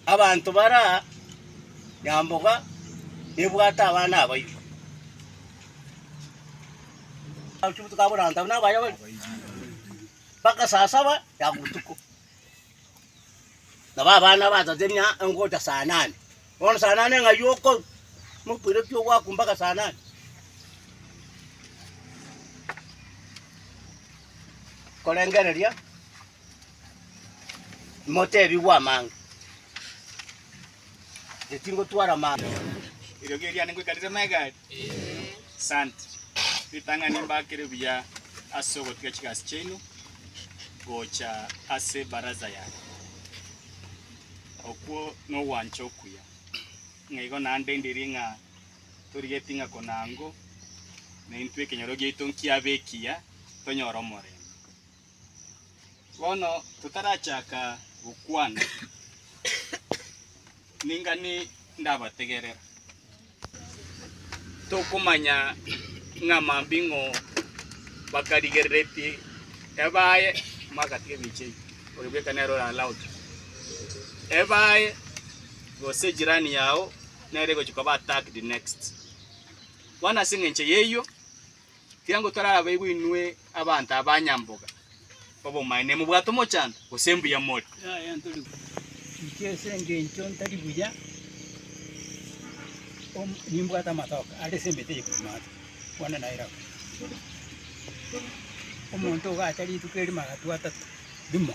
Abanto bara nyamboga nebwate abana abaito. Abachubuti ka borantabu nabayabori bagasasaba ya botuko. Nabo abana batatenia engocha saa nane. Bono saa nane ng'ai okoru? Mokwire pi ogwaku mpaka saa nane? Korengereria Imotebigwe amang'e, inche tingotwara amang'e. Eriogi eriane ngoikaneria amagega aria. Asante. Ritang'ani mbakere buya ase ogotiga chigasi chiaino gocha ase ebaraza yane. Okwo nogwancha okuya. Ng'a igo naende ndiri ng'a torigeti ng'a konango naintwe ekenyoro giaito nkiabe ekiya, tonyore omorembe. Bono totarachaka gokwana, ning'ani ndabategerera. Tokomanya ng'a mambing'o bakarigereretie ebaye magatiga emiche eye, oyo bweka nere oralaoche ebaye, gose ejirani yao nere egochia koba attacked next. Bono as'engencho y'eyio. Ekiagera torabeigwe inwe abanto abanyamboga obomaene, nimobwate omochanto, gose mbuya more. Inche ase engencho ntari buya om- nimbwate amatoke are ase emete eye korwa maate, bono nairabu. Omonto ogacha rituko erimo agatwa atato, rimo.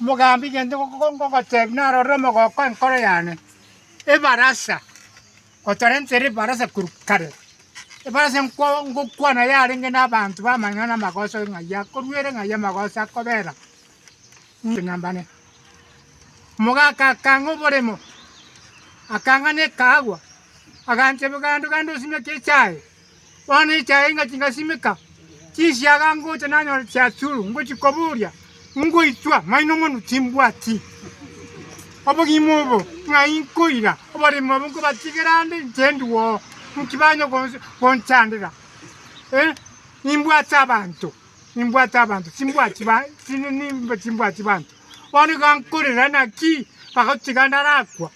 Mogambi, egento ngogotebi narorire omogoko enkoro yane, ebarasa, gotorentire ebarasa korwa kare, ebarasa ngokwana yarenge na abanto b'amang'ana na amagoso ng'ai akorwa ere ng'ai amagoso akobera, mbane. Omogaka akang'a oboremo, akang'a na ekaagwa, agancha ebigaando gande osimeke echae. Bono echaye inga chingasimeka chinsiaga ngocha nanyore chiachuru ngochia koboria, ngoitwa maino mono timbwati obogima obo ng'a inkoira oborimo obo nkobatigera ande inche ndigwo oo nki banya gonchandera eh, nimbwate abanto nimbwate abanto timbwati timbwati banto bono iga nkorera naki bagotiga narakwa.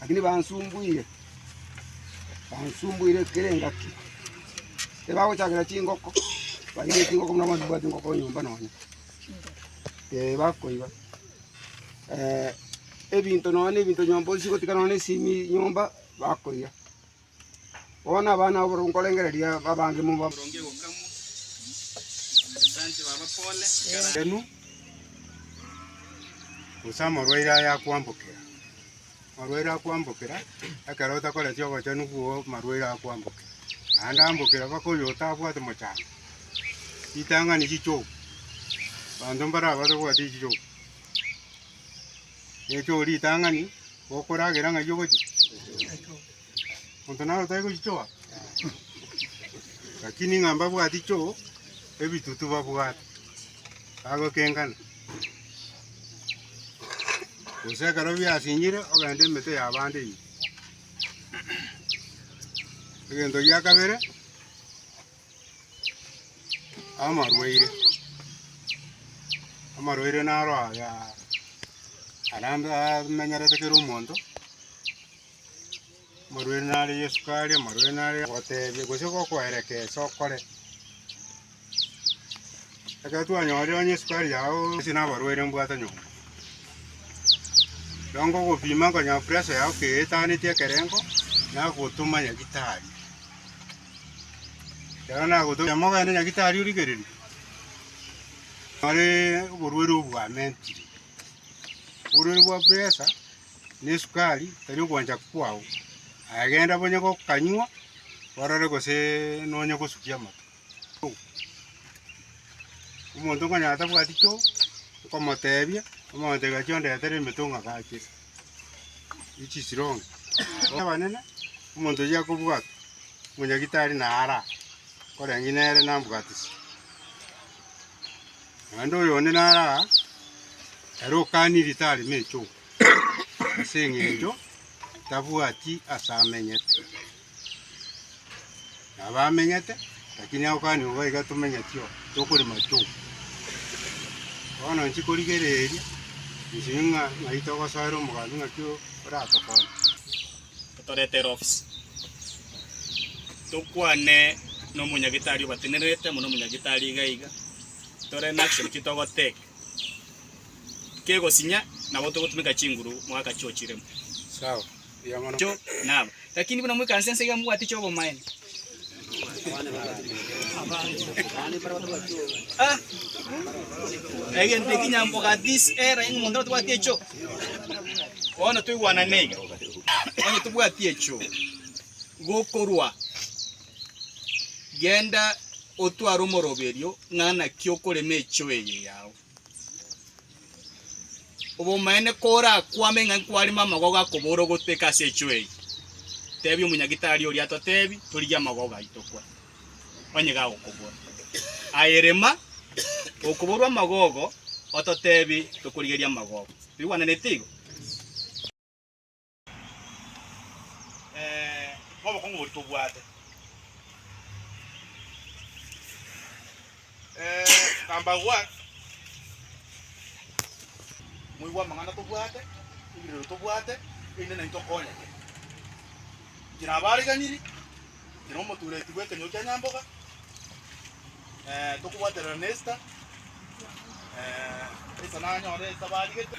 Lakini bansumbuire, bansumbuire kera engaki. Ebagochakera chingoko, bairire chingoko buna abanto babwate engoko nyomba nonya. Eh, bakoiba. Eh, ebinto nonya na ebinto nyomba osigotika nonya na esimi nyomba, bakoiya. Bono abana abwo nkorengereria babange moba abarwenu, gose omorwaire aye akwambokera. Omorwaire akwambokera, ekero otakoreti obochenu bw'o omorwaire akwambokera, naende ambokera mpaka oyo otabwati mochango. Ritang'ani richogu, abanto mbarabase kobwati richogu. Richogu ritang'ani, gokoragera ng'ai ogochia? Monto naro tari gochichoa? Lakini ng'a mbabwati choo, ebitutu babwate, bagokengana. Gose ekero biasinyire ogenda emete y'abande ime. Egento gia kabere, amarwaire. Amarwaire naro aya arambe amenyerete kera omonto. Omorweri nare Yesu karia, omorweri nare gotebia gose gokoereka ase okore. Ekero twanyorire onye Yesu karia ao ase nabarwere mbwate nyomba. Ekero ngogopima nkonye pressure yao keetaneti ekerengo, nagotoma nyagitari. Ekero nagotoma nyama ogende nyagitari origereria, nore oborwere obwo bwamentire, oborwere bwa pressure. nesukari tari ogwancha kwao, aye genda bonye gokanywa orore gose nonye gosukia amato. Omonto konyara atabwati choo, okomotebia, omotebia gaki ondetere emeto ng'agache echisironge abanene, omonto oyio akobwate, omonyagitari naro aa, koreng'ina ere nambwatisi. Naende oyonde nare aa, ere okania eritari Mechoko, ase engencho tabwati ase amenyete. Nabo amenyete, lakini agokani igo iga tomenyeti oo, tokori Machoko. Bono inche korigereria, inche ng'a ng'ai togosoera omogati ng'aki oratokonye. Totorete Rocks tokwane nomonyagitari obatenerete muna omonyagitari iga iga tore nache naki togoteka kegosinya nabo togotumeka chinguru mwaka chiochiremo. Sawa, riamana. Cho nabo. Lakini buna mwekansa ense iga mobwate chiobomaene. Egento eki nyamboga this era inwe monto tobwati echo. Bono toigwanane iga. Onye tobwati echo gokorwa genda otware omoroberio ng'a naki okorema echo eye yao. Obomaene korakwame ng'a nkwarema amagogo akobora ogoteka ase echuo eye, tebi omonyagitari oria atotebi torigie amagogo aito kwa, onye gagokobora. Aye rema okoborwa amagogo ototebi tokorigeria amagogo. Toigwananeti igo? eh, nobokong'u boria tobwate. Eh, Kambagwa, moigwa amang'ana tobwate, ebirero tobwate, erinde naintwe tokonyeke. Inche nabo areganiri, inche na omotureti bw'ekenyoro kia Nyamboga, eh, tokobwaterera na Esther, eh, Esther nanyore Esther barigete.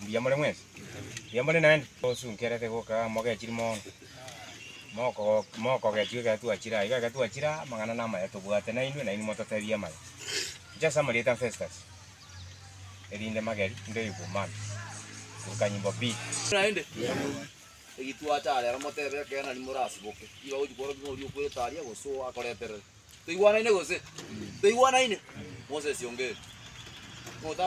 Mbuya more mwensi. Mbuya more naende. Osunkerete goka mogechiri mono. Moko mokogechwa ekero twachire aiga ekero twachire aa amang'ana namaya tobwate nainwe nainwe mototebie amaya. Inche ase amarieta a Festus erinde mageri ndoigwe man. Ruka nyimbo B. Naende egitwacha are aro motebe ekeene aria morasiboke nigo agochi kworokia ng'a oria okwerete aria gose oyo akoreterere. Toigwanaine gose? Toigwanaine? Moses ongeri. Ng'o ota.